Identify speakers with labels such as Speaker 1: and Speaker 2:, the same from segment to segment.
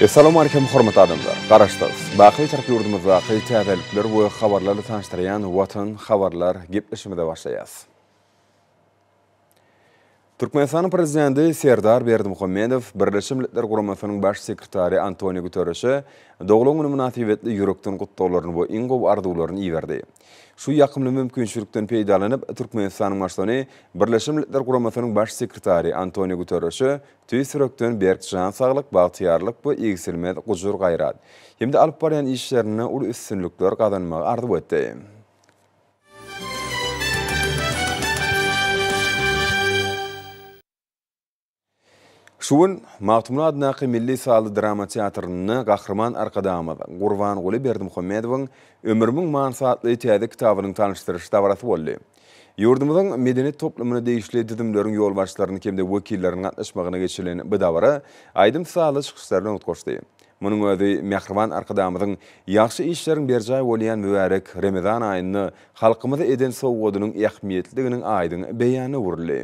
Speaker 1: Essalamu Aleýkum hormatly adamlar! Garaşsyz, baky Türk ýurdumyzdaky täzelikler we habarlarly tanyşdyrýan Watan habarlar gepleşimize başlaýas. Türkmenistanyň Prezidenti Serdar Berdimuhamedow Birleşen Milletler Guramasynyň Baş sekretary Antoniu Guterreşe doglan güni mynasybetli ýürekden gutlaglaryny we iň gowy arzuwlaryny iberdi. Şu ýakymly mümkinçilikden peýdalanyp, Türkmenistanyň Baştutany Birleşen Milletler Guramasynyň Baş sekretary Antoniu Guterreşe Tüýs ýürekden berk jan saglyk, bagtyýarlyk we egsilmez gujur-gaýrat hem-de alyp barýan işlerinde uly üstünlikler gazanmagy arzuw etdi. Şu gün Magtymguly adyndaky milli sazly drama teatrynda Gahryman Arkadagymyz Gurbanguly Berdimuhamedowyň Ömrümiň manysy atly täze kitabynyň tanyşdyryş dabarasy boldy. Ýurdumyzyň medeniýet toplumyna degişli düzümleriň ýolbaşçylarynyň hem-de wekilleriniň gatnaşmagynda geçirilen bu dabara aýdym-sazly çykyşlar bilen utgaşdy. Munuň özi mähriban Arkadagymyzyň ýagşy işleriň berjaý bolýan mübärek Remezan aýynda halkymyza eden sowgadynyň ähmiýetlidiginiň aýdyň beýanyna öwrüldi.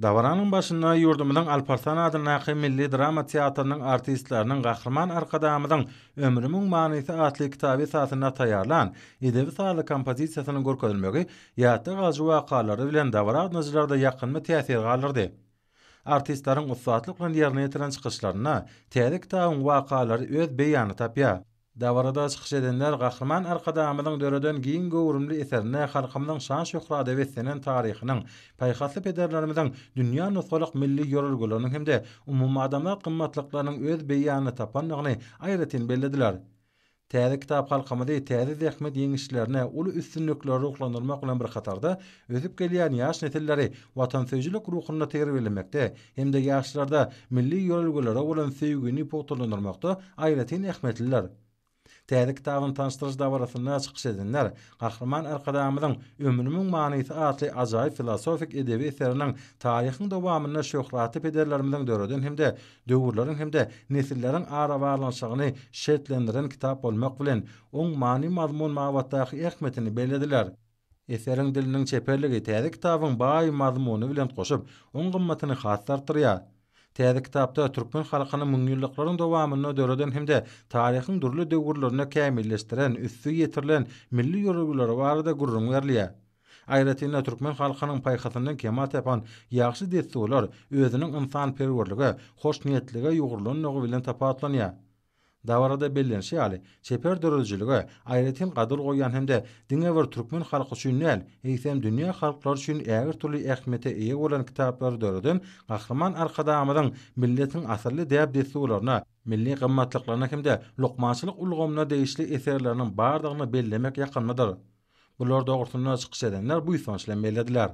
Speaker 1: Dabaranyň başynda ýurdumyzyň Alparslan adyndaky milli drama teatrynyň artistleriniň Gahryman Arkadagymyzyň Ömrümiň manysy atly kitaby esasynda taýýarlan edebi-sazly kompozisiýasynyň görkezilmegi ýatda galyjy wakalary bilen dabara gatnaşyjylarda ýakymly täsir galdyrdy. Artistleriň ussatlyk bilen ýerine ýetiren çykyşlarynda täze kitabyň wakalary öz beýanyny tapýar. Dabarada çykyş edenler Gahryman Arkadagymyzyň döreden giň göwrümli eserine halkymyzyň şan-şöhrada beslenen taryhynyň, paýhasly pederlerimiziň dünýä nusgalyk milli ýörelgeleriniň hem-de umumadamzat gymmatlyklarynyň öz beýanyny tapandygyny aýratyn bellediler. Täze kitap halkymyzy täze zähmet ýeňişlerine, uly üstünliklere ruhlandyrmak bilen bir hatarda, ösüp gelýän ýaş nesilleri watansöýüjilik ruhunda terbiýelemekde, hem-de ýaşlarda milli ýörelgelere bolan söýgini pugtalandyrmakda aýratyn ähmiýetlidir. Täze kitabyny tanyşdyryş dabarasynda çykyş edenler Gahryman Arkadagymyzyň Ömrümiň manysy atly ajaýyp filosofik edebi eseriniň taryhyň dowamynda şöhratly pederlerimiziň döreden hem-de döwürleriň hem-de nesilleriň arabaglanyşygyny şertlendiren kitap bolmak bilen, oň many-mazmun babatdaky ähmiýetini bellediler. Eseriň diliniň çeperligi täze kitabyň baý mazmuny bilen goşup, oň gymmatyny has-da artdyrýar. Täze kitapda türkmen halkyny müňýyllyklaryň dowamynda döreden hem-de taryhyň dürli döwürlerinde kämilleşdiren, üsti ýetirilen milli ýörelgeleri barada gürrüň berilýär. Aýratyn-da, türkmen halkynyň paýhasyndan kemal tapan ýagşy dessurlar özüniň ynsanperwerlige, hoşniýetlige ýugrulandygy bilen tapawutlanýar. Dabarada bellenişi ýaly, çeper döredijilige aýratyn gadyr goýýan hem-de diňe bir türkmen halky üçin däl, eýsem dünýä halklary üçin ägirtürli ähmiýete eýe bolan kitaplary döreden Gahryman Arkadagymyzyň milletiň asylly däp-dessurlaryna, milli gymmatlyklaryna hem-de lukmançylyk ulgamyna degişli eserleriniň bardygyny bellemek ýakymlydyr. Bular dogrusynda çykyş edenler buýsanç bilen bellediler.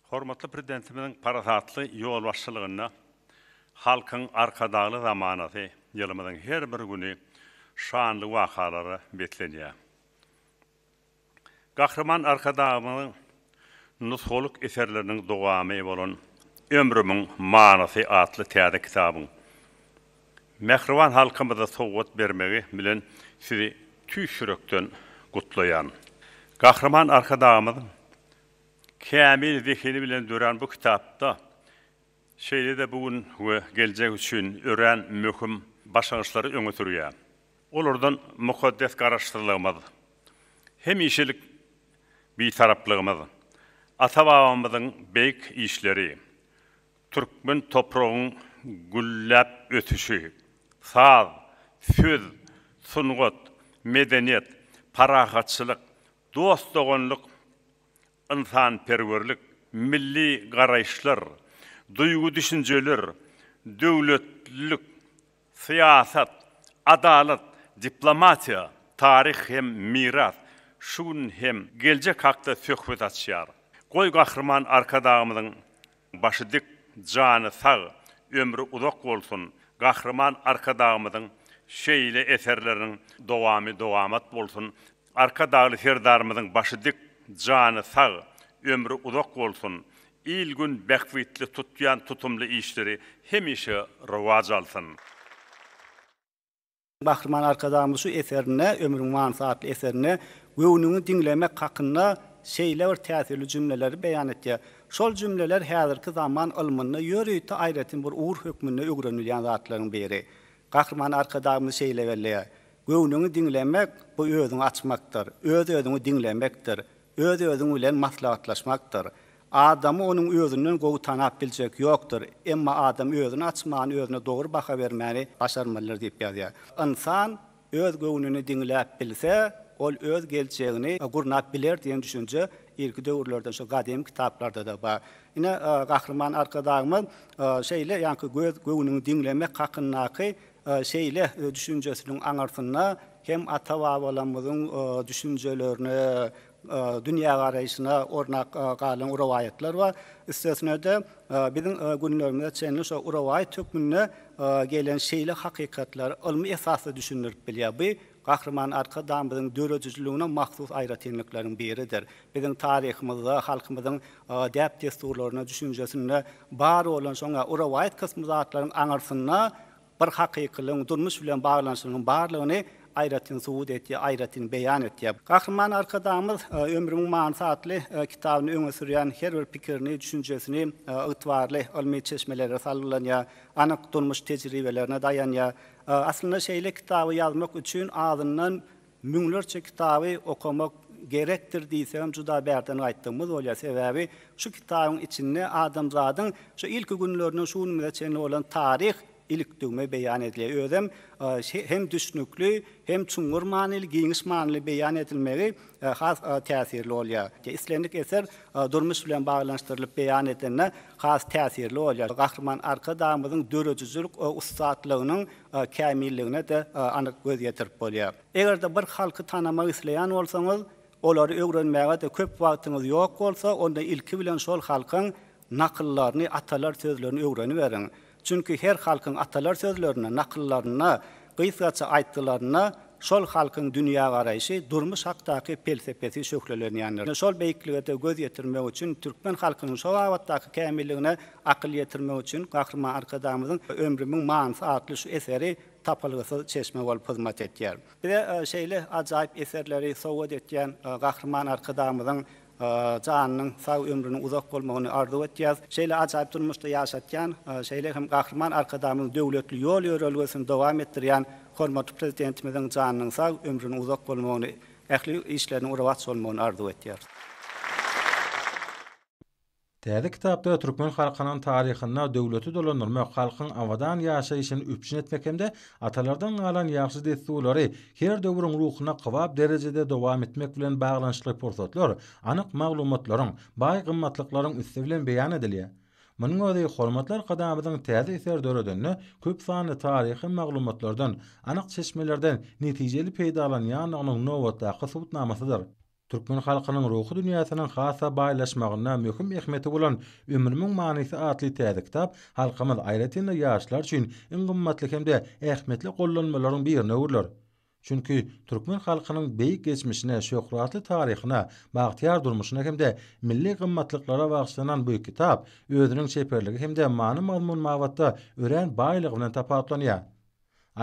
Speaker 1: Hormatly Prezidentimiziň parasatly ýolbaşçylygynda Halkyň Arkadagly zamanasy ýylymyzyň her bir güni şanly wakalara beslenýär. Gahryman Arkadagymyzyň nusgalyk eserleriniň dowamy bolan Ömrümiň manysy atly täze kitabyň mähriban halkymyza sowgat bermegi bilen Sizi tüýs ýürekden gutlaýan. Gahryman Arkadagymyzyň kämil zehini bilen dörän bu kitapda şeýle-de bu gün we geljek üçin örän möhüm başlangyçlary öňe sürýär. Olardan mukaddes Garaşsyzlygymyz, hemişelik Bitaraplygymyz, ata-babamyzyň beýik işleri, türkmen topragyň gülläp ösüşi, saz, söz, sungat, medeniýet, parahatçylyk, dost-doganlyk, ynsanperwerlik, milli garaýyşlar, duýgy-düşünjeler, döwletlilik, syýasat, adalat, diplomatiýa, taryh hem miras, şu gün hem geljek hakda söhbet açýar. Goý, Gahryman Arkadagymyzyň Başy dik, jany sag, ömri uzak bolsun Gahryman Arkadagymyzyň şeýle eserleriniň dowamy dowamat bolsun Arkadagly Serdarymyzyň başy dik, jany sag, ömri uzak bolsun Il gün bähbitli tutýan tutumly işleri hemişe rowaç alsyn. Gahryman Arkadagymyz şu eserinde, Ömrüň manysy atly eserinde göwnüňi diňlemek hakynda şeýle bir täsirli jümleleri beýan etýär. Şol jümleler häzirki zaman ylmynda ýörite aýratyn bir ugur hökmünde öwrenilýän zatlaryň biri. Gahryman Arkadagymyz şeýle belleýär, Göwnüňi diňlemek, bu özüňi açmakdyr, öz-özüňi diňlemekdir. Öz-özüň bilen maslahatlaşmakdyr. Adamy onuň özünden gowy tanap biljek ýokdur. Emma adam özüni açman, özüne dogry baha bermäni başarmalydyr diýip ýazýar. Ynsan öz göwnüni diňläp bilse, ol öz geljegini gurnap biler diýen düşünje irki döwürlerden şu gadymy kitaplarda-da bar. Ine, Gahryman Arkadagymyz şeýle ýaňky göz göwnüňi diňlemek hakyndaky Şeýle düşünjesiniň aňyrsynda hem ata-babalarymyzyň düşünjelerine, dünýägaraýşyna ornak galan rowaýatlar bar. Üstesine-de, biziň günlerimize çenli şo rowaýat hökmünde gelen şeýle hakykatlar ylmy esasda düşündirip bilýär. Bu Gahryman Arkadagymyzyň döredijiligine mahsus aýratynlyklaryň biridir. Biziň taryhymyzda, halkymyzyň däp-dessurlarynda, düşünjesinde bar bolan şoň ýa rowaýat kysmy zatlaryň aňyrsynda bir hakykylygyň, durmuş bilen baglanyşygynyň barlygyny aýratyn subut edýär, aýratyn beýan edýär. Gahryman Arkadagymyz Ömrümiň manysy atly kitabyny öňe sürýän her bir pikirini, düşünjesini ygtybarly ylmy çeşmelere salgylanýar, anyk durmuş tejribelerine daýanýar. Aslynda şeýle kitaby ýazmak üçin azyndan müňlerçe kitaby okamak gerekdir diýsegem juda bärden aýtdygymyz bolýar. Sebäbi şu kitabyň içinde adamzadyň şu ilki günlerinden şu günümize çenli bolan taryh ilikdügme beýan edilýär. Özem hem düşnükli, hem çuňňur manyly, giňiş manyly beýan edilmegi has täsirli bolýar. Islendik eser durmuş bilen baglanyşdyrylyp beýan edilende has täsirli bolýar. Gahryman Arkadagymyzyň döredijilik ussatlygynyň kämilligine-de anyk göz ýetirip bolýar. Eger-de bir halky tanamak isleýän bolsaňyz, olary öwrenmäge-de köp wagtyňyz ýok bolsa, onda ilki bilen şol halkyň nakyllaryny, atalar sözlerini öwreniberiň. Çünki her halkyň atalar sözlerinde, nakyllarynda, gysgaça aýtgylarynda şol halkyň dünýägaraýşy, durmuş hakdaky pelsepesi şöhlelenýändir. Şol beýiklige-de göz ýetirmek üçin, türkmen halkynyň şo babatdaky kämilligine akyl ýetirmek üçin Gahryman Arkadagymyzyň Ömrümiň manysy atly şu eseri tapylgysyz çeşme bolup hyzmat etýär. Bize şeýle ajaýyp eserleri sowgat etýän Gahryman Arkadagymyzyň Janynyň sag, ömrüniň uzak bolmagyny arzuw etýäs. Şeýle ajaýyp durmuşda ýaşatýan, şeýle hem Gahryman Arkadagymyzyň döwletli ýol-ýörelgesini dowam etdirýän hormatly Prezidentimiziň janynyň sag, ömrüniň uzak bolmagyny, ähli işleriniň rowaç bolmagyny arzuw etýäris. Täze kitapda türkmen halkynyň taryhynda döwleti dolandyrmak, halkyň abadan ýaşaýşyny üpjün etmek hem-de atalardan galan ýagşy dessurlary her döwrüň ruhuna kybap derejede dowam etmek bilen baglanyşykly pursatlar, anyk maglumatlaryň, baý gymmatlyklaryň üsti bilen beýan edilýär. Munuň özi hormatly Arkadagymyzyň täze eser döredende köp sanly taryhy maglumatlardan, anyk çeşmelerden netijeli peýdalanýandygynyň nobatdaky subutnamasydyr. Türkmen halkynyň ruhy dünýäsiniň has-da baýlaşmagynda möhüm ähmiýeti bolan Ömrümiň manysy atly täze kitap halkymyz, aýratyn-da, ýaşlar üçin iň gymmatly hem-de ähmiýetli gollanmalaryň birine öwrüler. Çünki, türkmen halkynyň beýik geçmişine, şöhratly taryhyna, bagtyýar durmuşyna hem-de milli gymmatlyklara bagyşlanan bu kitap özüniň çeperligi hem-de many-mazmun babatda örän baýlygy bilen tapawutlanýar.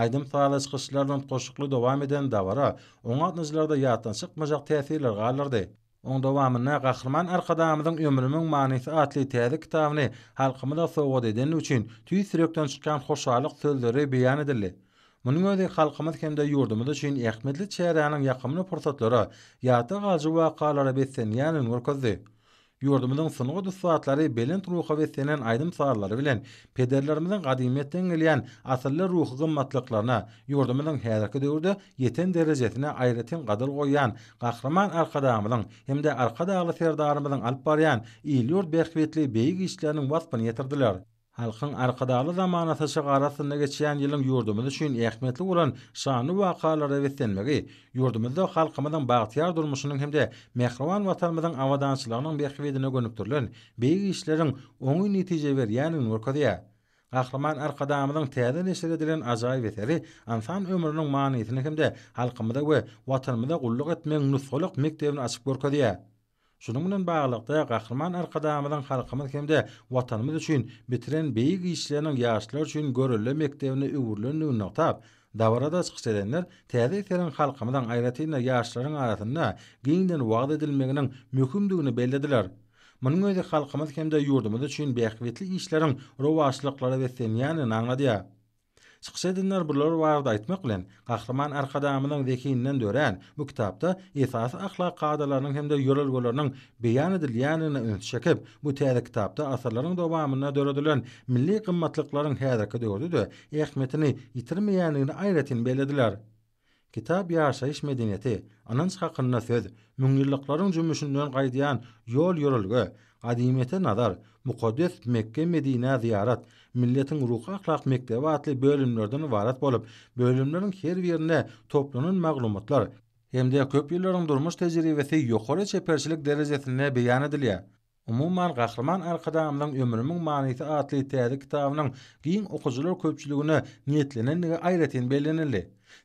Speaker 1: Aýdym-sazly çykyşlar bilen goşukly dowam eden dabara oň gatnaşyjylarda ýatdan çykmajak täsirler galdyrdy. Oň dowamynda Gahryman Arkadagymyzyň Ömrümiň manysy atly täze kitabyny halkymyza sowgat edeni üçin tüýs ýürekden çykýan hoşallyk sözleri beýan edildi. Munuň özi halkymyz hem-de ýurdumyz üçin ähmiýetli çäräniň ýakymly pursatlara, ýatda galyjy wakalara beslenýändigini görkezdi. Ýurdumyzyň sungat ussatlary belent ruha beslenen aýdym-sazlary bilen pederlerimiziň gadymyýetden gelýän asylly ruhy gymmatlyklaryna, ýurdumyzyň häzirki döwürde ýeten derejesine aýratyn gadyr goýýan Gahryman Arkadagymyzyň hem-de Arkadagly Serdarymyzyň alyp barýan il-ýurt bähbitli beýik işleriniň waspyny ýetirdiler. Halkyň Arkadagly zamanasy şyg ary astynda geçýän ýylyň ýurdumyz üçin ähmiýetli bolan şanly wakalara beslenmegi, ýurdumyzda halkymyzyň bagtyýar durmuşynyň hem-de mähriban Watanymyzyň abadançylygynyň bähbidine gönükdirilen beýik işleriň oňyn netije berýändigini görkezýär. Gahryman Arkadagymyzyň täze neşir edilen ajaýyp eseri ynsan ömrüniň manysyny hem-de halkymyza we Watanymyza gulluk etmegiň nusgalyk mekdebini açyp görkezýär. Şunuň bilen baglylykda, Gahryman Arkadagymyzyň halkymyz hem-de Watanymyz üçin bitiren beýik işleriniň ýaşlar üçin görelde mekdebine öwrülendigini nygtap, dabarada çykyş edenler täze eseriň halkymyzyň, aýratyn-da, ýaşlaryň arasynda giňden wagyz edilmeginiň möhümdigini bellediler. Munuň özi halkymyz hem-de ýurdumyz üçin bähbitli işleriň rowaçlyklara beslenýändigini aňladýar. Çykyş edenler bular barada aýtmak bilen, Gahryman Arkadagymyzyň zehininden dörän bu kitapda esasy ahlak kadalarynyň hem-de ýörelgeleriniň beýan edilýändigine üns çekip, bu täze kitapda asyrlaryň dowamynda döredilen milli gymmatlyklaryň häzirki döwürde-de ähmiýetini ýitirmeýändigini aýratyn bellediler. Kitap ýaşaýyş medeniýeti, ynanç hakynda söz, müňýyllyklaryň jümmüşinden gaýdýan ýol-ýörelge, gadymyýete nazar, mukaddes Mekge-Medinä zyýarat, milletiň ruhy-ahlak mekdebi atly bölümlerden ybarat bolup, bölümleriň her birinde toplanan maglumatlar hem-de köp ýyllaryň durmuş tejribesi ýokary çeperçilik derejesinde beýan edilýär. Umuman, Gahryman Arkadagymyzyň Ömrümiň manysy atly täze kitabynyň giň okyjylar köpçüligine niýetlenendigi aýratyn bellenildi.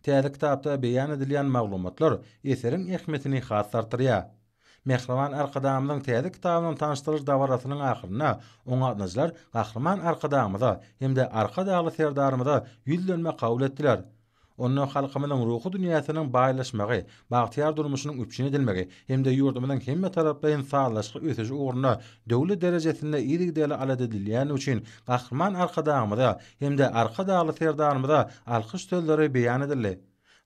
Speaker 1: Täze kitapda beýan edilýän maglumatlar eseriň ähmiýetini has-da artdyrýar. Mähriban Arkadagymyzyň täze kitabynyň tanyşdyryş dabarasynyň ahyrynda oňatnyjylar Gahryman Arkadagymyza hem-de Arkadagly Serdarymyza ýüzlenme kabul etdiler. Onda halkymyzyň ruhy dünýäsiniň baýlaşmagy, bagtyýar durmuşynyň üpjün edilmegi hem-de ýurdumyzyň hemmetaraplaýyn sazlaşykly ösüşi ugrunda döwlet derejesinde yzygiderli alada edilýändigi üçin Gahryman Arkadagymyza hem-de Arkadagly Serdarymyza alkyş sözleri beýan edildi.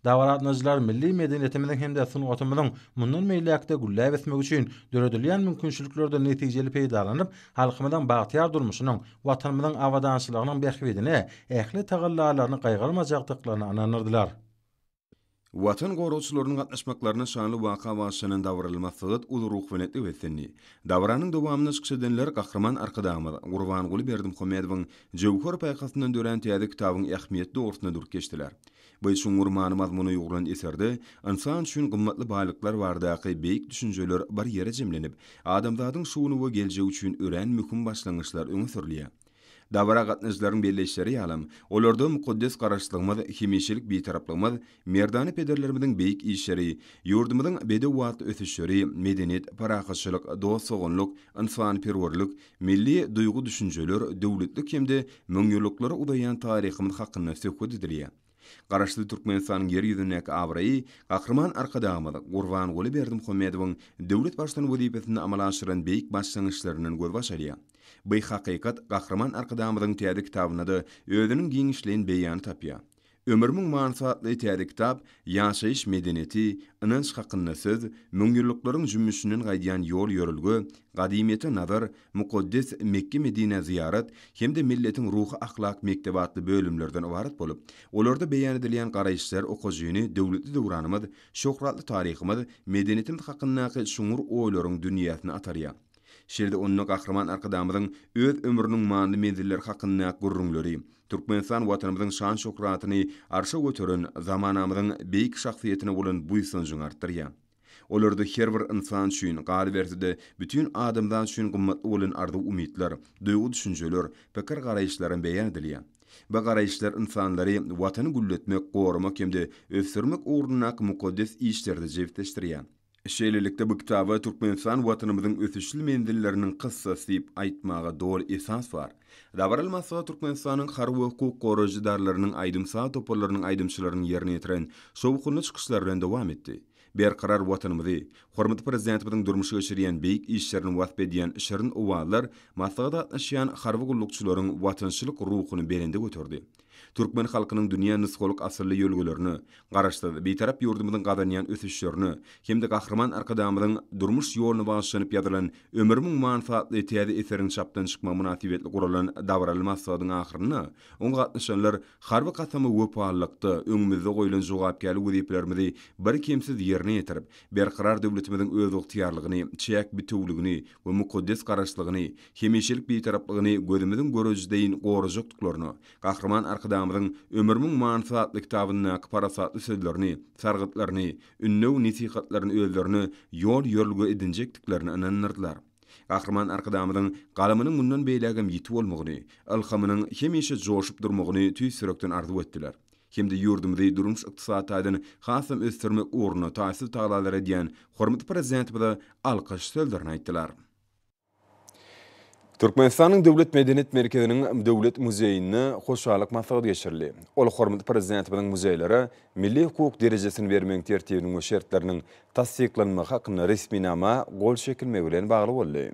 Speaker 1: Dabara gatnaşyjylar milli medeniýetimiziň hem-de sungatymyzyň mundan beýläk-de gülläp ösmegi üçin döredilýän mümkinçiliklerden netijeli peýdalanyp, halkymyzyň bagtyýar durmuşynyň, Watanymyzyň abadançylygynyň bähbidine ähli tagallalaryny gaýgyrmajakdyklaryna ynandyrdylar. Watan goragçylarynyň gatnaşmaklarynda şanly waka bagyşlanan dabara masgat uly ruhubelentlik beslendi. Dabaranyň dowamynda çykyş edenler Gahryman Arkadagymyz Gurbanguly Berdimuhamedowyň jöwher paýhasyndan dörän täze kitabyň ähmiýeti dogrusynda durup geçdiler. Bu çuňňur many-mazmuna ýugrulan eserde ynsan üçin gymmatly baýlyklar baradaky beýik düşünjeler bir ýere jemlenip, adamzadyň şu güni we geljegi üçin örän möhüm başlangyçlar öňe sürülýär. Dabara gatnaşyjylaryň belleýişleri ýalam, olarda mukaddes Garaşsyzlygymyz, hemişelik Bitaraplygymyz, merdana pederlerimiziň beýik işleri, ýurdumyzyň bedewbatly ösüşleri, medeniýet, parahatçylyk, dost-doganlyk, ynsanperwerlik, Milli duýgy-düşünjeler, döwletlik hem-de müňýyllyklara uzaýan taryhymyz hakynda söhbet edilýär. Garaşsyz Türkmenistanyň Ýer ýüzündäki abraýy Gahryman Arkadagymyz Gurbanguly Berdimuhamedowyň döwlet Baştutany wezipesinde amala aşyran beýik başlangyçlaryndan gözbaş alýar. By hakykat Gahryman Arkadagymyzyň täze kitabynda-da özüniň giňişleýin beýany tapýar. Ömür müň manysy atly täze kitap ýaşaýyş medeniýeti, ynanç hakynda söz, müňýyllyklaryň jümmüşinden gaýdýan ýol-ýörelge, gadymyýete nazar, mukaddes Mekge-Medinä zyýarat hem-de milletiň ruhy-ahlak mekdebi atly bölümlerden ybarat bolup, olarda beýan edilýän garaýyşlar okyjyny döwletli döwranymyz, şöhratly taryhymyz, medeniýetimiz hakyndaky çuňňur oýlaryň dünýäsine atarýar. Şeýle-de onda Gahryman Arkadagymyzyň öz ömrüniň manyly menzilleri hakyndaky gürrüňleri, Türkmenistan Watanymyzyň şan-şöhratyny arşa göteren zamanamyzyň beýik şahsyýetine bolan buýsanjyňy artdyrýar. Olarda her bir ynsan üçin, galyberse-de, bütin adamzat üçin gymmatly bolan arzuw-umytlar, duýgy-düşünjeler, pikir-garaýyşlaram beýan edilýär. Bu garaýyşlar ynsanlary Watany gülletmek, goramak hem-de ösdürmek ugrundaky mukaddes işlerde jebisleşdirýär. Şeýlelikde, bu kitaba Türkmenistan Watanymyzyň ösüşli menzilleriniň kyssasy diýip aýtmaga doly esas bar. Dabaraly maslahat Türkmenistanyň harby we hukuk goraýjy edaralarynyň aýdym-saz toparlarynyň aýdymçylarynyň ýerine ýetiren şowhunly çykyşlary bilen dowam etdi. Berkarar Watanymyzy, hormatly Prezidentimiziň durmuşa geçirýän beýik işlerini wasp edýän şirin owazlar maslahata gatnaşýan harby gullukçylaryň watançylyk ruhuny belende göterdi. Türkmen halkynyň dünýä nusgalyk asylly ýörelgelerine, Garaşsyz, Bitarap ýurdumyzyň gazanýan ösüşlerine hem-de Gahryman Arkadagymyzyň durmuş ýoluna bagyşlanyp ýazylan Ömrümiň manysi atly täze eseriň çapdan çykmagy mynasybetli guralan dabaraly maslahatyň ahyrynda oňa gatnaşanlar harby kasama wepalylykda öňümizde goýlan jogapkärli wezipelerimizi birkemsiz ýerine ýetirip, berkarar döwletimiziň özygtyýarlygyny, çäk bitewüligini we mukaddes Garaşsyzlygyny hemişelik Bitaraplygyny gözümiziň görejisi deýin gorajakdyklaryna, Gahryman Arkadagymyzyň Ömrümiň manysy atly kitabyndaky parasatly sözlerini, sargytlaryny, ündew-nesihatlaryny özlerine ýol-ýörelge edinjekdiklerine ynandyrdylar. Gahryman Arkadagymyzyň galamynyň mundan beýlägem ýiti bolmagyny, ylhamynyň hemişe joşup durmagyny tüýs ýürekden arzuw etdiler hem-de ýurdumyzy durmuş-ykdysady taýdan hasam ösdürmek ugrunda taýsyz tagalalar edýän hormatly Prezidentimize alkyş sözlerini aýtdylar. Türkmenistanyň Döwlet medeniýet merkeziniň Döwlet muzeýinde hoşallyk maslahaty geçirildi. Ol hormatly Prezidentimiziň muzeýlere milli hukuk derejesini bermegiň tertibiniň we şertleriniň tassyklanmagy hakynda resminama gol çekilmegi bilen bagly boldy.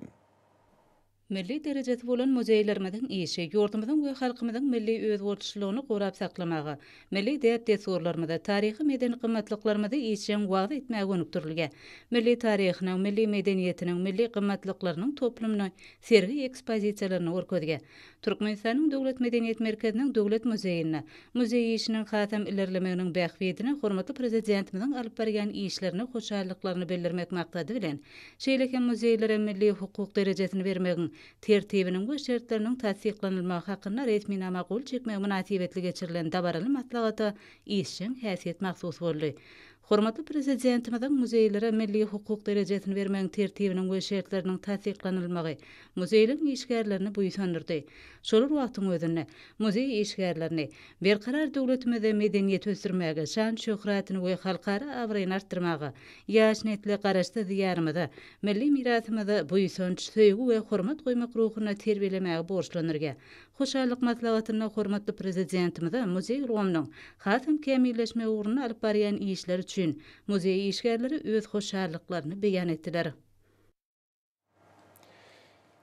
Speaker 1: Milli derejesi bolan muzeýlerimiziň işi ýurdumyzyň we halkymyzyň milli özboluşlylygyny gorap saklamaga, milli däp-dessurlarymyzy, taryhy-medeni gymmatlyklarymyzy işjeň wagyz etmäge gönükdirilge, milli taryhynyň, milli medeniýetiniň, milli gymmatlyklarynyň toplumyny sergi ekspozisiýalarynda görkezge, Türkmenistanyň Döwlet medeniýet merkeziniň Döwlet muzeýinde, muzeý işiniň hasam ilerlemeginiň bähbidine hormatly Prezidentimiziň alyp barýan işlerine hoşallyklaryny bildirmek maksady bilen, şeýle hem muzeýlere milli hukuk derejesini bermegiň Tertibiniň we şertleriniň tassyklanylmagy hakynda resminama gol çekmegi mynasybetli geçirilen dabaraly maslahata işjeň häsiýet mahsus boldy. Hormatly Prezidentimiziň muzeýlere milli hukuk derejesini bermegiň tertibiniň we şertleriniň tassyklanylmagy muzeýleň işgärlerini buýsandyrdy. Şolar wagtyň özünde, muzeý işgärlerini, Berkarar döwletimizde medeniýeti ösdürmäge, şan-şöhratyny we halkara abraýyny artdyrmaga, ýaş nesle Garaşsyz Diýarymyza, Milli mirasymyzy buýsanç, söýgi we hormat goýmak ruhunda terbiýelemäge borçlundyrýar. Hoşallyk maslahatynda hormatly Prezidentimize muzeý ulgamynyň hasam kämilleşmegi ugrunda alyp barýan işleri üçin muzeý işgärleri öz hoşallyklaryny beýan etdiler.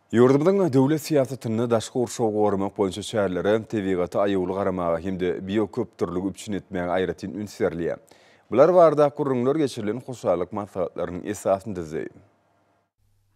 Speaker 1: Ýurdumyzyň döwlet syýasatynda daşky gurşawy goramak boýunça çärelere, tebigata aýawly garamaga hem-de bioköpdürlügi üpjün etmäge aýratyn üns berilýär. Bular barada gürrüňler geçirilen hoşallyk maslahatlarynyň esasyny düzdi.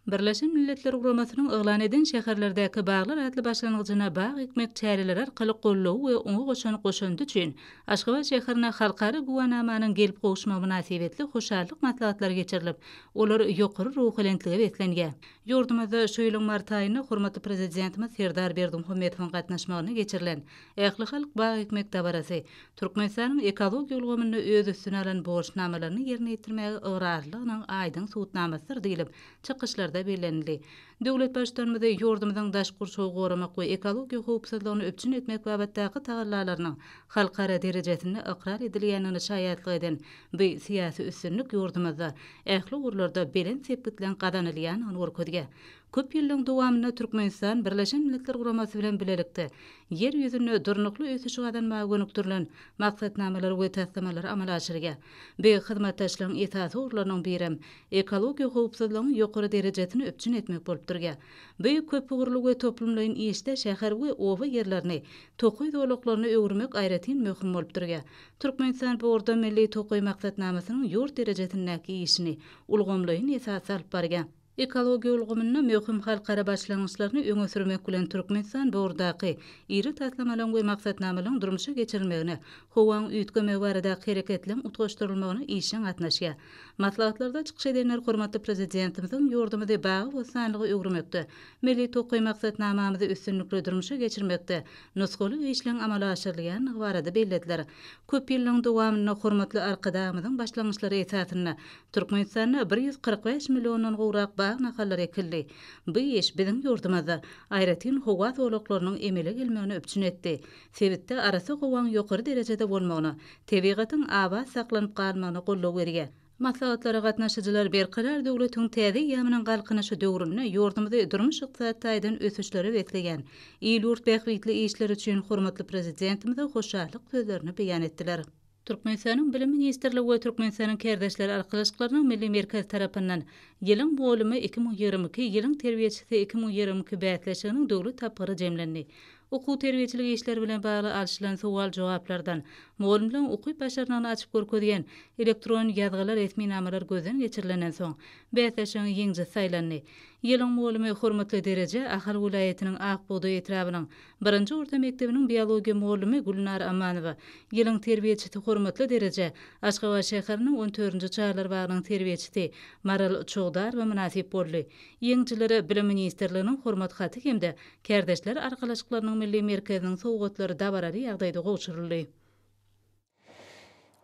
Speaker 1: Birleşen Milletler Guramasynyň yglan eden Şäherlerdäki baglar atly başlangyjyna bag ekmek çäreleri arkaly goldawy we oňa goşan goşandy üçin Aşgabat şäherine Halkara güwänamanyň gelip gowuşmagy mynasybetli hoşallyk maslahatlary geçirilip, olar ýokary ruhubelentlige beslenýär. Ýurdumyzda şu ýylyň mart aýynda hormatly Prezidentimiz Serdar Berdimuhamedowyň gatnaşmagynda geçirilen Ählihalk bag ekmek dabarasy Türkmenistanyň ekologiýa ulgamynda öz üstüne alan borçnamalaryny ýerine ýetirmäge ygrarlylygynyň aýdyň subutnamasydyr diýlip, çykyşlarda bellenildi. Döwlet Baştutanymyz ýurdumyzyň daşky gurşawy goramak we ekologiýa howpsuzlygyny üpjün etmek babatdaky tagallalarynyň halkara derejesinde ykrar edilýändigine şaýatlyk eden Bu syýasy üstünlik ýurdumyzda ähli ugurlarda belent sepgitleň gazanylýandygyny görkezýär. Köp ýyllaryň dowamynda Türkmenistan Birleşen Milletler Guramasy bilen bilelikde Ýer ýüzünde durnukly ösüşi gazanmaga gönükdirilen maksatnamalary we taslamalary amala aşyrýar. Bu hyzmatdaşlygyň esasy ugurlarynyň birem ekologiýa howpsuzlygyň ýokary derejesini üpjün etmek bolup durýar. Bu köpugurly we toplumlaýyn işde şäher we oba ýerlerini tokaý zolaklaryna öwürmek aýratyn möhüm bolup durýar. Türkmenistan bu ugurda Milli tokaý maksatnamasynyň ýurt derejesindäki işini ulgamlaýyn esasda alyp barýar. Ekologiýa ulgamynda möhüm halkara başlangyçlaryny öňe sürmek bilen Türkmenistan bu ugurdaky iri taslamalaryň we maksatnamalaryň durmuşa geçirilmegine, howaň üýtgemegi baradaky hereketleriň utgaşdyrylmagyna işjeň gatnaşýar. Maslahatlarda çykyş edenler hormatly Prezidentimiziň ýurdumyzy bagy-bossanlyga öwürmekde, Milli tokaý maksatnamamyzy üstünlikli durmuşa geçirmekde nusgalyk işleň amala aşyrylýandygy barada bellediler. Köp ýyllaryň dowamynda hormatly Arkadagymyzyň başlangyçlary esasynda Türkmenistanda bir ýüz kyrk bäş milliondan gowrak bag nahallary ekildi. Bu iş biziň ýurdumyzda aýratyn howa zolaklarynyň emele gelmegini üpjün etdi, sebitde arassa howaň ýokary derejede bolmagyna, tebigatyň abat saklanyp galmagyna goldaw berýär. Maslahatlara gatnaşyjylar Berkarar döwletiň täze eýýamynyň Galkynyşy döwründe ýurdumyzy durmuş-ykdysady taýdan ösüşlere besleýän il-ýurt bähbitli işleri üçin hormatly Prezidentimize hoşallyk sözlerini beýan etdiler. Türkmenistanyň Bilim ministrligi we Türkmenistanyň Kärdeşler arkalaşyklarynyň Milli merkezi tarapyndan Ýylyň mugallymyýki müň ýigrimi iki, Ýylyň terbiýeçisi iki müň ýigrimi iki bäsleşiginiň döwlet tapgyry jemlendi. Okuw-terbiýeçilik işleri bilen bagly alşylan sowal-jogaplardan, mugallymlaryň ukyp-başarnygyny açyp görkezýän elektron ýazgylar-resminamalar gözden geçirilenden soň, bäsleşigiň ýeňjisi saýlandy. Ýylyň mugallymy hormatly dereje Ahal welaýatynyň Ak bugdaý etrabynyň birinji orta mekdebiniň biologiýa mugallymy Gülnar Amanowa, ýylyň terbiýeçisi hormatly dereje Aşgabat şäheriniň on dördünji çagalar bagynyň terbiýeçisi Maral Çowdarowa mynasyp boldy. Ýeňijilere Bilim ministrliginiň Hormat haty hem-de Kärdeşler arkalaşyklarynyň milli merkeziniň sowgatlary dabaraly ýagdaýda gowşuryldy.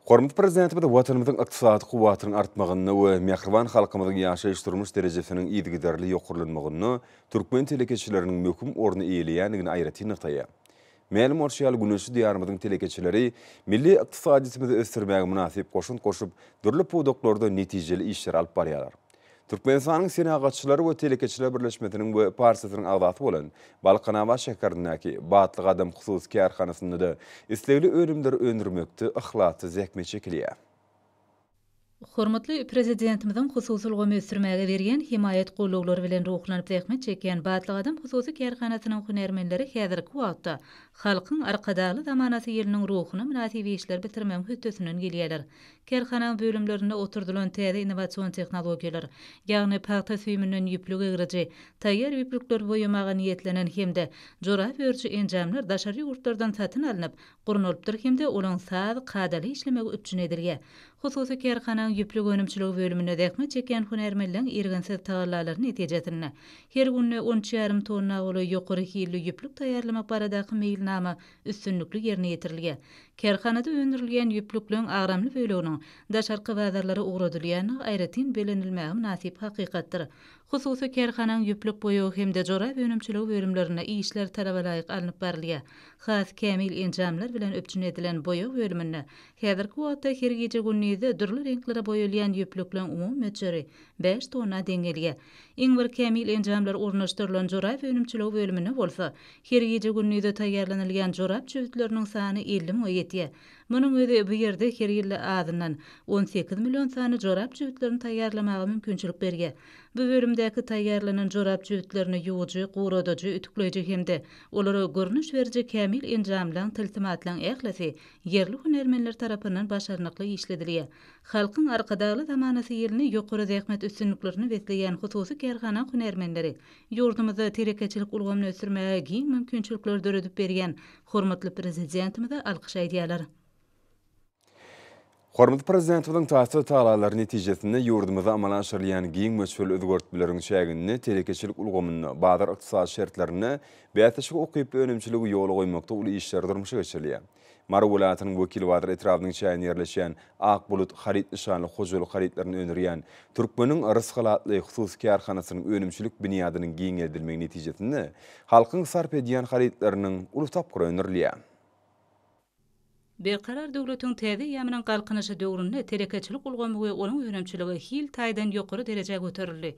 Speaker 1: Hormatly Prezidentimiz Watanymyzyň ykdysady kuwwatynyň artmagynda we mähriban halkymyzyň ýaşaýyş-durmuş derejesiniň yzygiderli ýokarlanmagynda türkmen telekeçileriniň möhüm orny eýeleýändigini aýratyn nygtaýar. Mälim bolşy ýaly, güneşli Diýarymyzyň telekeçileri milli ykdysadyýetimizi ösdürmäge mynasyp goşant goşup, dürli pudaklarda netijeli işleri alyp barýarlar. Türkmenistanyň Senagatçylar we telekeçiler birleşmesiniň we partiýasynyň agzasy bolan Balkanabat şäherindäki Batly gadam hususy kärhanasynda-da islegli önümleri öndürmekde yhlasly zähmet çekilýär. Hormatly Prezidentimiziň hususy ulgamy ösdürmäge berýän hemaýat gollaglary bilen ruhlanyp zähmet çekýän Batly gadam hususy kärhanasynyň hünärmenleri häzirki wagtda Halkyň Arkadagly zamanasy ýylynyň ruhuna mynasyp işleri bitirmegiň hötdesinden gelýärler. Kärhananyň bölümlerinde oturdylan täze innowasion tehnologiýalar, ýagny pagta süýüminden ýüplük egriji, taýýar ýüplükleri boýamaga niýetlenen hem-de jorap örüji enjamlar daşary ýurtlardan satyn alnyp, gurnalypdyr hem-de olaň saz, kadaly işlemegi üpjün edilýär. Hususy kärhananyň ýüplük önümçiligi bölüminde zähmet çekýän hünärmenleň irginsiz tagallalary netijesinde, her günde on üç ýarym tonna golaý ýokary hilli ýüplük taýýarlamak baradaky meýilnama üstünlikli ýerine ýetirilýär. Kärhanada öndürilýän ýüplükleň agramly böleginiň daşarky bazarlara ugradylýandygy aýratyn bellenilmäge mynasyp hakykatdyr. Hususy kärhananyň ýüplük boýagy hem-de jorap önümçiligi bölümlerinde işler talabalaýyk alnyp barylýar. Has kämil enjamlar bilen üpjün edilen boýag bölüminde häzirki wagtda her gije-gündizde dürli reňklere boýalýan ýüplükleriň umumy möçberi bäş tonna deň gelýär. Iň bir kämil enjamlar ornaşdyrylan jorap önümçiligi bölüminde bolsa, her gije-gündizde taýýarlanylýan jorap çüwütleriniň sany elli müňe ýetýär. Munuň özi bu ýerde her ýylda azyndan on sekiz million sany jorap jübütlerini taýýarlamaga mümkinçilik berýär. Bu bölümdäki taýýarlanan jorap jübütlerini ýuwujy, guradyjy, ütükleýji hem-de olara görnüş beriji kämil enjamlaň, tilsimatlaň ählisi ýerli hünärmenler tarapyndan başarnykly işledilýär. Halkyň Arkadagly zamanasy ýylyny ýokary zähmet üstünliklerini besleýän hususy kärhana hünärmenleri ýurdumyzda telekeçilik ulgamyny ösdürmäge giň mümkinçilikleri döredip berýän Hormatly Prezidentimize alkyş aýdýarlar. Hormatly Prezidentimiziň taýsyz tagalary netijesinde ýurdumyzda amala aşyrylýan giň möçberli özgertmeleriň çäginde telekeçilik ulgamynda, bazar ykdysady şertlerinde bäsleşige ukyply önümçiligi ýola goýmakda uly işler durmuşa geçirilýär. Mary welaýatynyň Wekilbazar etrabynyň çäginde ýerleşýän Ak bulut haryt nyşanly hojalyk harytlaryny öndürýän Türkmeniň Rysgalatly hususy kärhanasynyň önümçilik binýadynyň giňeldilmegi netijesinde halkyň sarp edýän harytlarynyň uly tapgyry öndürilýär. Berkarar döwletiň täze eýýamynyň Galkynyşy döwründe telekeçilik ulgamy we onuň önümçiligi hil taýdan ýokary derejä göterildi.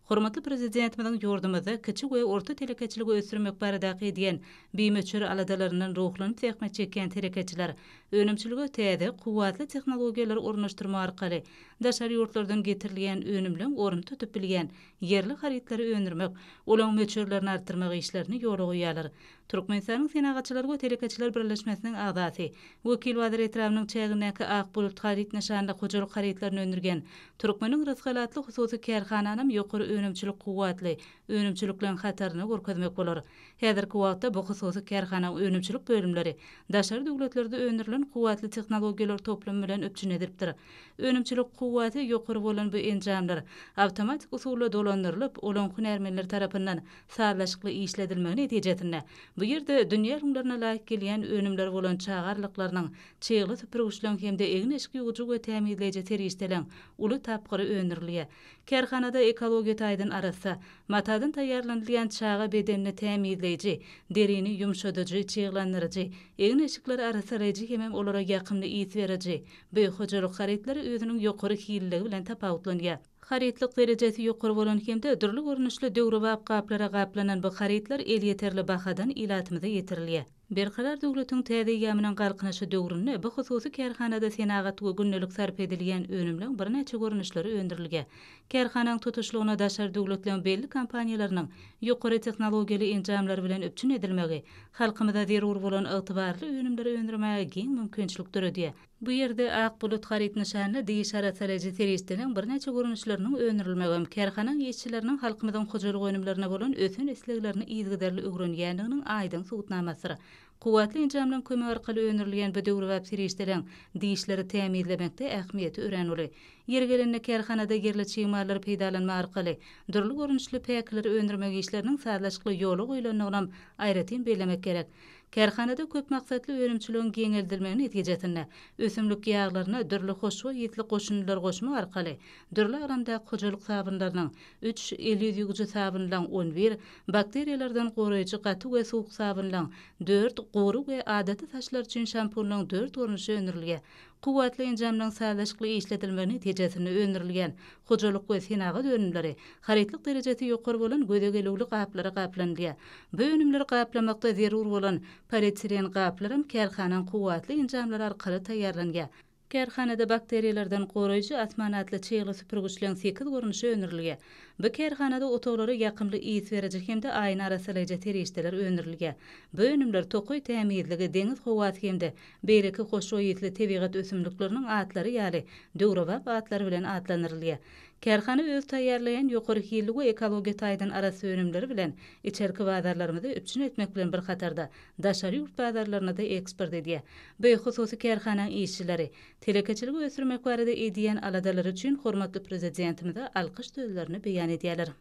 Speaker 1: Hormatly Prezidentimiziň ýurdumyzda kiçi we orta telekeçiligi ösdürmek baradaky edýän bimöçber aladalaryndan ruhlanyp zähmet çekýän telekeçiler Önümçilige täze, kuwwatly tehnologiýalary ornaşdyrmak arkaly, daşary ýurtlardan getirilýän önümleň ornuny tutup bilýän ýerli harytlary öndürmek, olaň möçberlerini artdyrmak işlerini ýola goýýarlar. Türkmenistanyň Senagatçylar we telekeçiler birleşmesiniň agzasy, Wekilbazar etrabynyň çägindäki Ak bulut haryt nyşanly hojalyk harytlaryny öndürýän Türkmeniň rysgaly atly hususy kärhananam ýokary önümçilik kuwwatly önümçilikleň hataryna görkezmek bolar. Häzirki wagtda bu hususy kärhanaň önümçilik bölümleri daşary döwletlerde öndürilen kuwwatly tehnologiýalar toplumy bilen üpjün edilipdir. Önümçilik kuwwaty ýokary bolan bu enjamlar awtomatik usulda dolandyrylyp, olaň hünärmenler tarapyndan sazlaşykly işledilmegi netijesinde, bu ýerde dünýä ylňlaryna laýyk gelýän önümler bolan çaga arlyklarynyň, çygly süpürgiçleň hem-de egin-eşik ýuwujy we tämizleýji serişdeleň uly tapgyry öndürilýär. Kärhanada ekologiýa taýdan arassa, matadan taýýarlanylýan çaga bedenini tämizleýji, derini ýumşadyjy, çyglandyryjy, egin-eşikleri arassalaýjy hemem olara ýakymly ys beriji bu hojalyk harytlary özüniň ýokary hililigi bilen tapawutlanýar. Harytlyk derejesi ýokary bolan hem-de dürli görnüşli döwrebap gaplara gaplanan bu harytlar elýeterli bahadan ilatymyza ýetirilýär. Berkarar döwletiň täze eýýamynyň Galkynyşy döwründe bu hususy kärhanada senagat we gündelik sarp edilýän önümleň birnäçe görnüşleri öndürilge. Kärhanaň tutuşlygyna daşary döwletleň belli kompaniýalarynyň ýokary tehnologiýaly enjamlary bilen üpjün edilmegi halkymyza zerur bolan ygtybarly önümleri öndürmäge giň mümkinçilik döredýär. Bu ýerde Ak bulut haryt nyşanly diş arassalaýjy serişdeniň birnäçe görnüşleriniň öndürilmegem kärhanaň işçileriniň halkymyzyň hojalyk önümlerine bolan ösen isleglerini yzygiderli öwrenýändiginiň aýdyň subutnamasydyr. Kuwwatly enjamlaryň kömegi arkaly öndürilýän bu döwrebap serişdeleň dişleri tämizlemekde ähmiýeti örän uly. Ýeri gelende kärhanada ýerli çig mallary peýdalanmak arkaly dürli görnüşli päkileri öndürmek işleriniň sazlaşykly ýola goýlandygynam aýratyn bellemek gerek. Kärhanada köp maksatly önümçiligiň giňeldilmegi netijesinde, ösümlik ýaglaryna dürli hoşboý ýitli goşundylary goşmak arkaly, dürli agramdaky hojalyk sabynlarynyň, üç, el ýüz ýuwujy sabynlaryň, on bir, bakteriýalardan goraýjy gaty we suwuk sabynlaryň, dört, gury we adaty saçlar üçin şampunlaryň dört görnüşi öndürilge Kuwwatly enjamlaryň sazlaşykly işledilmegi netijesinde öndürilýän Hojalyk we senagat önümleri harytlyk derejesi ýokary bolan göze gelüwli gaplara gaplanylýar. Bu önümleri gaplamakda zerur bolan polietilen gaplaram kärhanaň kuwwatly enjamlary arkaly taýýarlanýar. Kärhanada bakteriýalardan goraýjy Asman atly çygly süpürgiçleň sekiz görnüşi öndürilýär. Bu kärhanada otaglara ýakymly ys beriji hem-de aýny arassalaýjy serişdeler öndürilýär. Bu önümler tokaý tämizligi, deňiz howasy hem-de Beýleki hoşboý ysly tebigat ösümlikleriniň atlary ýaly, döwrebap atlary bilen atlandyrylýar. Kärhana öz taýýarlaýan ýokary hilli we ekologiýa taýdan arassa önümleri bilen içerki bazarlarymyzy üpjün etmek bilen bir hatarda, daşary ýurt bazarlaryna-da eksport edýär. Bu hususy kärhanaň işçileri, telekeçiligi ösdürmek barada edýän aladalary üçin hormatly Prezidentimize alkyş sözlerini beýan edýärler.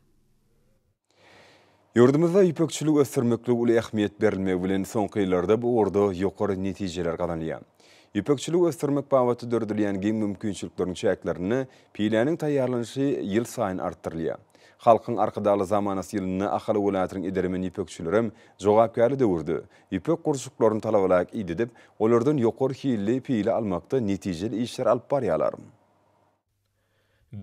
Speaker 1: Ýurdumyzda ýüpekçiligi ösdürmeklige uly ähmiýet berilmegi bilen, soňky ýyllarda bu ugurda ýokary netijeler gazanylýar. Ýüpekçiligi ösdürmek babatda döredilýän giň mümkinçilikleriň çäklerinde piläniň taýýarlanyşy ýylsaýyn artdyrylýar. Halkyň Arkadagly zamanasy ýylynda Ahal welaýatynyň edermen ýüpekçilerem jogapkärli döwürde ýüpek gurçuklaryny talabalaýyk idedip, olardan ýokary hilli pile almakda netijeli işler alyp barýarlar.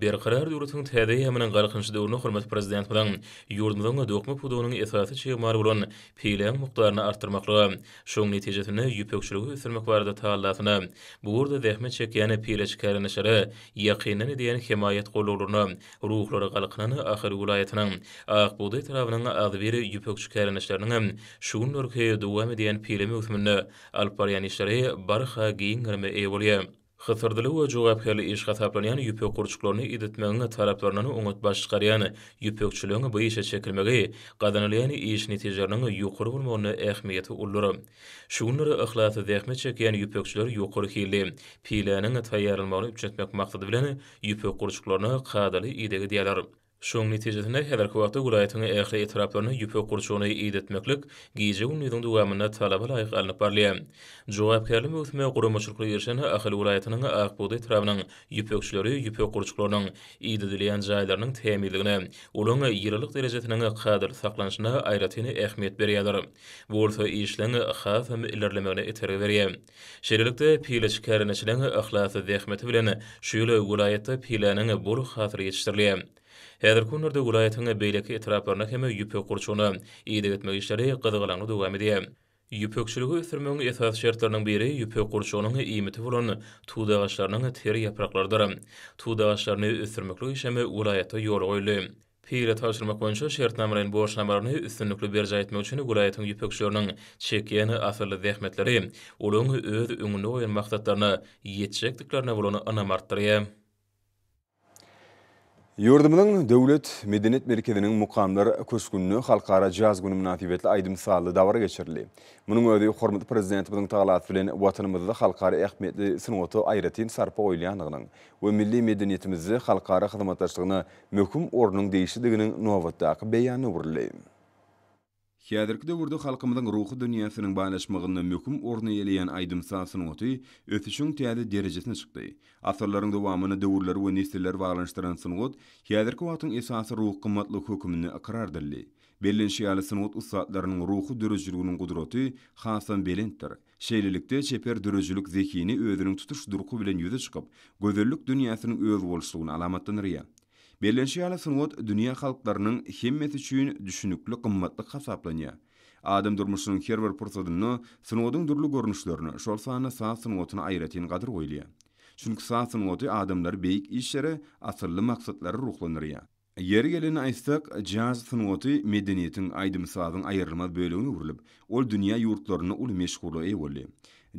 Speaker 1: Berkarar döwletiň täze eýýamynyň Galkynyş döwrüne hormatly Prezidentimiziň ýurdumyzyň dokma pudagynyň esasy çig maly bolan peýleň mukdaryny artdyrmaklyga, şonuň netijesinde ýüpekçiligi ösdürmek barada tallasyna, bu ugurda zähmet çekýän peýleçkärendeşlere ýakyndan edýän hemaýat gollawlaryna ruhlary galkynan Ahal welaýatynyň Ak bugdaý etrabynyň agzybir ýüpekçi kärendeşleriniň hem şu günlerki dowam edýän peýle möwsüminde alyp barýan işleri barha giň gerime eýe bolýar. Hysyrdyly we jogapkärli iş hasaplanýan ýüpek gurçuklaryny iditmegiň taraplaryndan oňat baş çykarýan ýüpekçiligiň bu işe çekilmegi gazanylýan iş netijeleriniň ýokary bolmagynda ähmiýeti uludyr. Şu günler yhlasly zähmet çekýän ýüpekçiler ýokary hilli piläniň taýýarlanmagyny üpjün etmek maksady bilen ýüpek gurçuklaryna kadaly ideg edýärler. Şonuň netijesinde, häzirki wagtda welaýatyň ähli etraplarynda ýüpek gurçugyny idetmeklik gije-gündiziň dowamynda talaba laýyk alnyp barylýar. Jogapkärli möwsüme guramaçylykly girişen Ahal welaýatynyň Ak bugdaý etrabynyň ýüpekçileri ýüpek gurçuklarynyň idedilýän jaýlarynyň tämizligine, olaryň ýylylyk derejesiniň kadaly saklanyşyna aýratyn ähmiýet berýärler. Bu bolsa işleň hasam ilerlemegine itergi berýär. Şeýlelikde, pile çikärendçiniň yhlasly zähmeti bilen şu ýyl welaýatda piläniň bol hasyly ýetişdirildi. Häzirki günlerde welaýatyň beýleki etraplarynda hem ýüpek gurçugyna ideg etmek işleri gyzgalaňly dowam edýär. Ýüpekçiligi ösdürmegiň esasy şertleriniň biri ýüpek gurçugynyň iýmiti bolan tut agaçlarynyň ter ýapraklarydyr. Tut agaçlaryny ösdürmeklik işem welaýatda ýola goýuldy. Pile tabşyrmak boýunça şertnamalaýyn borçnamalaryny üstünlikli berjaý etmek üçin welaýatyň ýüpekçileriniň çekýän asylly zähmetleri olaryň öz öňünde goýan maksatlaryna ýetjekdiklerine bolan ynamy artdyrýar. Ýurdumyzyň Döwlet medeniýet merkeziniň Mukamlar köşgünde Halkara jaz güni mynasybetli aýdym-sazly dabara geçirildi. Munuň özi hormatly Prezidentimiziň tagalasy bilen Watanymyzda halkara ähmiýetli sungata aýratyn sarpa goýulýandygynyň we milli medeniýetimizde halkara hyzmatdaşlygyna möhüm ornuň degişlidiginiň nobatdaky beýany öwrüldi. Häzirki döwürde halkymyzyň ruhy dünýäsiniň baýlaşmagynda möhüm orun eýeleýän aýdym-saz sungaty ösüşiň täze derejesine çykdy. Asyrlaryň dowamynda döwürleri we nesilleri baglanyşdyran sungat häzirki wagtyň esasy ruhy gymmatlygy höküminde ykrar edildi. Bellenişi ýaly, sungat ussatlarynyň ruhy döredijiliginiň gudraty hasam belentdir. Şeýlelikde, çeper döredijilik zehini özüniň tutuş durky bilen ýüze çykyp, gözellik dünýäsiniň özboluşlygyny alamatlandyrýar. Bellenişi ýaly, sungat dünýä halklarynyň hemmesi üçin düşünikli gymmatlyk hasaplanýar. Adam durmuşynyň her bir pursadynda sungatyň dürli görnüşlerine, şol sanda saz sungatyna aýratyn gadyr goýulýar. Çünki saz sungaty adamlary beýik işlere, asylly maksatlara ruhlandyrýar. Ýeri gelende aýtsak, jaz sungaty medeniýetiň, aýdym-sazyň aýrylmaz bölegine öwrülip, ol dünýä ýurtlarynda uly meşhurlyga eýe boldy.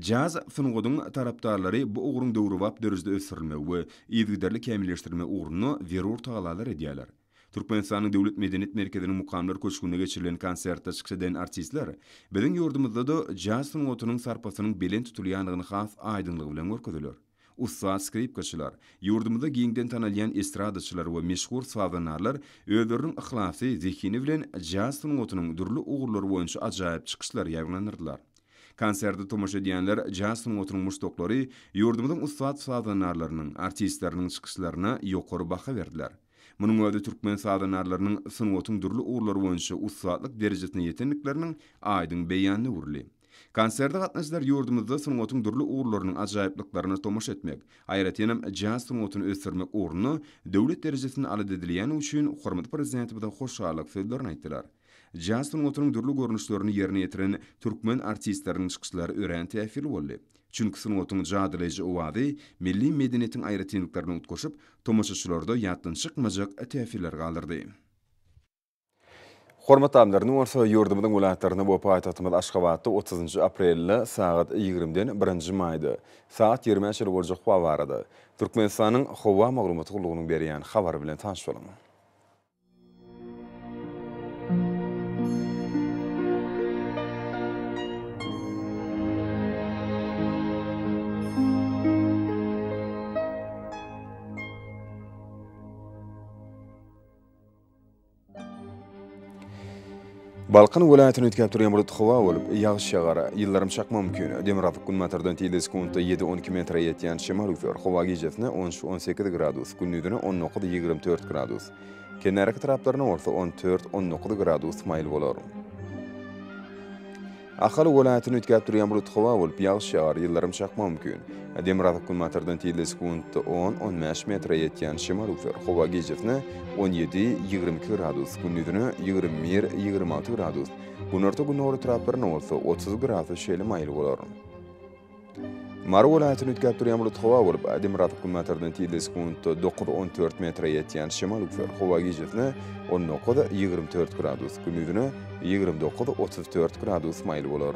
Speaker 1: Jaz sungatyň tarapdarlary bu ugruň döwrebap derejede ösdürilmegi we yzygiderli kämilleşdirilmegi ugrunda zerur tagallalar edýärler. Türkmenistanyň Döwlet medeniýet merkeziniň Mukamlar köşgünde geçirilen konsertde çykyş eden artistler biziň ýurdumyzda-da jaz sungatynyň sarpasynyň belent tutulýandygyny has aýdyňlygy bilen görkezdiler. Ussat skripkaçylar, ýurdumyzda giňden tanalýan estradaçylar we meşhur sazandarlar özleriniň yhlasy, zehini bilen jaz sungatynyň dürli ugurlary boýunça ajaýyp çykyşlary ýaýbaňlandyrdylar. Konserde tomaşa edýänler jaz sungatynyň muşdaklary ýurdumyzyň ussat sazandarlarynyň, artistleriniň çykyşlaryna ýokary baha berdiler. Munuň özi türkmen sazandarlarynyň sungatyň dürli ugurlary boýunça ussatlyk derejesine ýetendikleriniň aýdyň beýanyna öwrüldi. Konserde gatnaşyjylar ýurdumyzda sungatyň dürli ugurlarynyň ajaýyplyklaryna tomaşa etmek, aýratynam jaz sungatyny ösdürmek ugrunda döwlet derejesinde alada edilýäni üçin hormatly Prezidentimize hoşallyk sözlerini aýtdylar. Jaz sungatynyň dürli görnüşlerini ýerine ýetiren türkmen artistleriniň çykyşlary örän täsirli boldy. Çünki sungatyň jadylaýjy owazy milli medeniýetiň aýratynlyklaryny utgaşyp, tomaşaçylarda ýatdan çykmajak täsirler galdyrdy. Hormatly amlar, indi bolsa ýurdumyzyň welaýatlarynda we paýtagtymyz Aşgabatda otuzynjy aprelde sagat ýigrimiden birinji maýda sagat ýigrimä çenli boljak howa barada Türkmenistanyň Howa maglumat gullugynyň berýän habary bilen tanyş boluň. Balkan welaýatyny üýtgäp durýan bulut howa bolup, ýagyş ýagar, ýyldyrym çakma mümkin. Demografiýk günbatardan tizligi sekuntda ýedi-on-iki metre ýetýän şemal üflär. Howa gijesine on üç-on sekiz gradus, gündizine on dokuz-ýigrimi dört gradus, kenarki taraplaryna bolsa on dört-on dokuz gradus maýyl bolar. Ahal welaýatyny üýtgäp durýan bulut howa bolup, ýagyş ýagar, ýyldyrym çakmagy mümkin. Demirgazyk günbatardan tizligi sekuntda on-on bäş metre ýetýän şemal üwser. Howa gijesine on ýedi, ýigrimi iki gradus, gündizine ýigrimi bir, ýigrimi alty gradus, günorta-gündogar etraplarynda bolsa otuz gradus şeýle maýyl bolar. Mary welaýatyny üýtgäp durýan bulut howa bolup, demirgazyk günbatardan tizligi sekuntda dokuz, on dört metre ýetýän şemal üflär. Howa gijesine on dokuz, ýigrimi dört gradus, gündizine ýigrimi dokuz, otuz dört gradus maýyl bolar.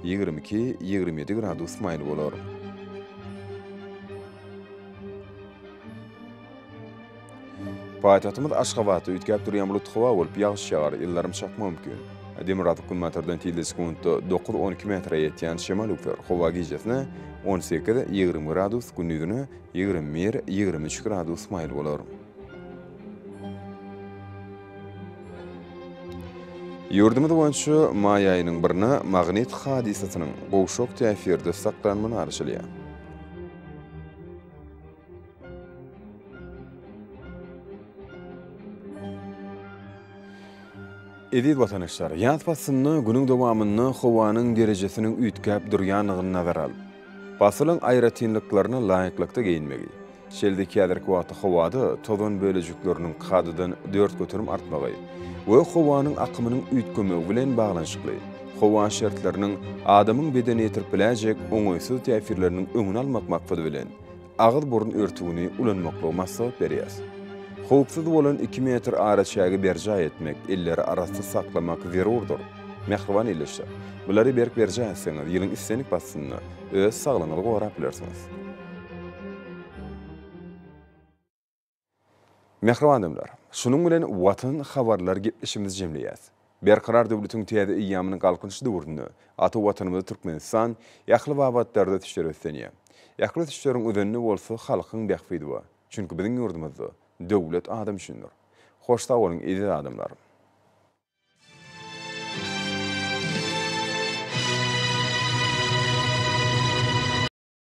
Speaker 1: Ýigrimi iki, ýigrimi ýedi gradus maýyl bolar. Paýtagtymyz Aşgabatda üýtgäp durýan bulut howa bolup, ýagyş ýagar, ýyldyrym çakma mümkin. Demirgazyk günbatardan tizligi sekuntda dokuz, on iki metre ýetýän şemal öwser. Howa gijesine on sekiz, ýigrimi gradus, gündizine ýigrimi bir, ýigrimi üç gradus maýyl bolar. Ýurdumyz boýunça maý aýynyň birine magnit hadysasynyň gowşak täsirde saklanma garaşylýar. Eziz watandaşlar, ýaz paslynda günüň dowamynda howanyň derejesiniň üýtgäp durýandygyny nazara alyp, pasylyň aýratynlyklaryna laýyklykda geýinmegi, Şeýle-de häzirki wagtda howada tozan bölejikleriniň kadadan dört göterim artmagy we howanyň akymynyň üýtgemegi bilen baglanyşykly howa şertleriniň adamyň bedenine ýetirip biläýjek oňaýsyz täsirleriniň öňüni almak maksady bilen agyz-burun örtügini ulanmaklygy maslahat berýär. Howpsuz bolan iki metr araçägi berjaý etmek, elleri arassa saklamak zerurdyr. Mähriban ildeşler! Bulary berk berjaý etseňiz, ýylyň islendik paslynda öz saglygyňyzy gorap bilersiňiz. Mähriban adamlar! Şunuň bilen Watan habarlar gepleşigimizi jemleýäs. Berkarar döwletiň täze eýýamynyň Galkynyş döwründe ata Watanymyz Türkmenistan ähli babatlarda ösüşleri beslenýär. Ähli ösüşleriň özeninde bolsa halkyň bähbidi bar. Çünki biziň ýurdumyzda Döwlet adam üçindir. Hoş sag boluň eziz adamlar!